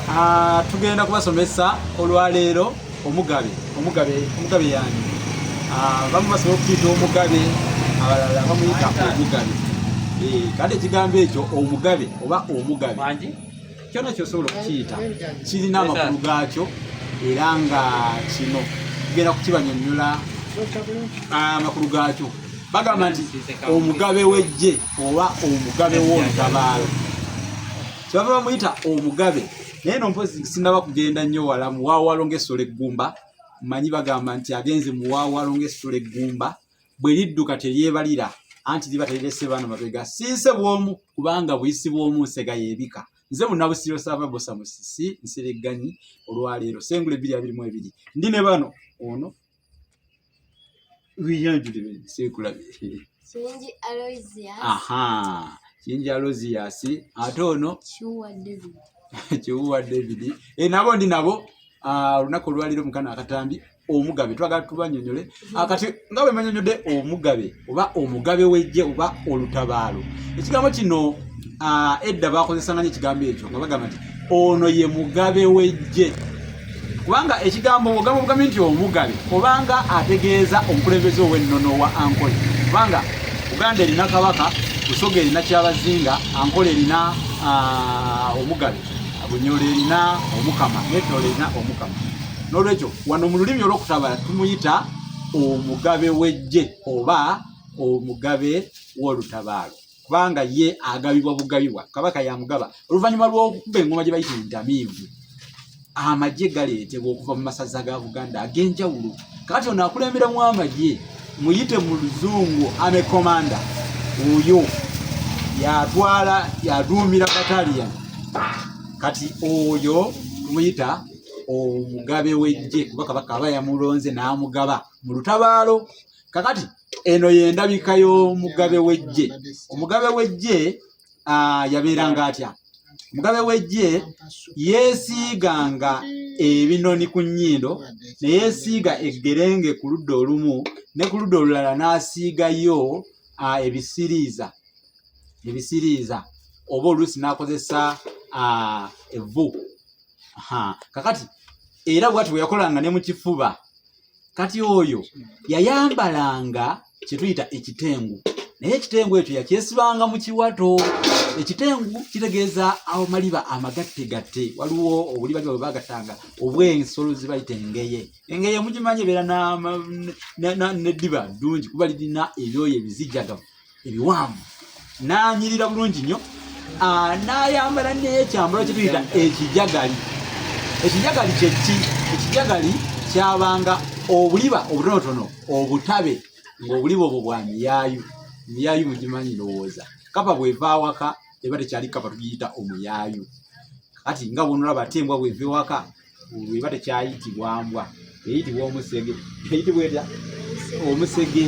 Ah, tugenda kubasomesa olwaleero omugabe omugabe omugabe yani ah, bamu basobola okuyita omugabe abalala bamuyita omugabe eh, kati ekigambo ekyo omugabe oba omugabe kyona kyosobola okukiyita kirina amakulu gaakyo era nga kino tugenda kukibanyonyola ah, amakulu gaakyo bagamba nti omugabe wejje oba omugabe w'olutabaalo kyebava bamuyita omugabe naye no mpozi sinaba kugenda nnyo wala muwaawalo ngaessola eggumba mmanyi bagamba nti agenze muwaawalo ngaessola eggumba bwe lidduka teryebalira anti liba terirese baana mabega sinse bwomu kubanga buyisi bwomu nsega yebika nze munabusiro sava bosa musisi nsiregganyi olwaleero sengula ebbiri abiri mu ebiri ndi ne bano ono Kiyingi Aloysius. Aha. Kiyingi Aloysius ate ono Kiwuwa David. Kiwuwa David. Eh, nabo ndi nabo ah, olunaku olwaliro mukana akatambi omugabe twagala tubanyonyole akati nga bwe manyonyode omugabe oba omugabe w'eggye oba olutabaalo ekigambo kino edda bakozesanga nyo ekigambo ekyo nga bagamba nti ono ye mugabe w'eggye kubanga ekigambo ogamba obugambi nti omugabe obanga ategeeza omukulembeze ow'ennono wa ankole kubanga uganda erina kabaka busoga erina kyabazinga ankole erina omugabe bunyolo erina omukama netola erina omukama n'olwekyo wano mu lulimi olw'okutabala tumuyita omugabe w'eggye oba omugabe w'olutabaalo kubanga ye agabibwa bugabibwa kabaka yamugaba oluvannyuma lw'okukuba engoma gye bayita entamiivu amagye galeetebwa okuva mu masaza ga buganda ag'enjawulo kati ono akulemberamu amagye muyite mu luzungu ame komanda oyo yatwala yaduumira batalian kati oyo tumuyita omugabe w'eggye kuba kabaka aba yamulonze n'amugaba mu lutabaalo kakati eno y'endabika y'omugabe w'eggye omugabe w'eggye yabeeranga atya omugabe w'eggye yeesiiganga ebinoni ku nnyindo ne yeesiiga eggerenge ku ludda olumu ne ku ludda olulala n'asiigayo ebisiriiza ebisiriiza oba oluusi n'akozesa evvu kakati era bwati bweyakolanga ne mukifuba kati oyo yayambalanga kyetuyita ekitengu naye ekitengu ekyo yakyesibanga mu kiwato ekitengu kitegeeza awo maliba amagatte gatte waliwo obuli baliba bwebagattanga obwensolo zibayita engeye engeye mugimanyi ebeera neddiba ddungi kuba lirina ebyoyo ebizijjagamu ebiwanvu n'anyirira bulungi nnyo ah, n'ayambala n'ekyambalo kye tuyita ekijagali ekijagali kyeki ekijagali kyabanga obuliba obutonotono obutabe ng'obuliba obwo bwa miyaayu miyaayu mugimanyi ndowooza kapa bweva awaka eba tekyali kapa tugiyita omuyaayu kati nga bwonolaba ate embwa bweva ewaka eba tekyayitibwa mbwa eyitibwa omusege eyitibwa etya omusege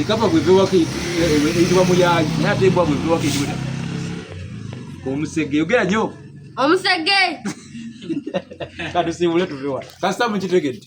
ekapa bwevewako eyitibwa muyayi naye ate embwa bwevewako eyitibwa omusege ogera nyo omusege katusimbule tuvewa kasita mukitegedde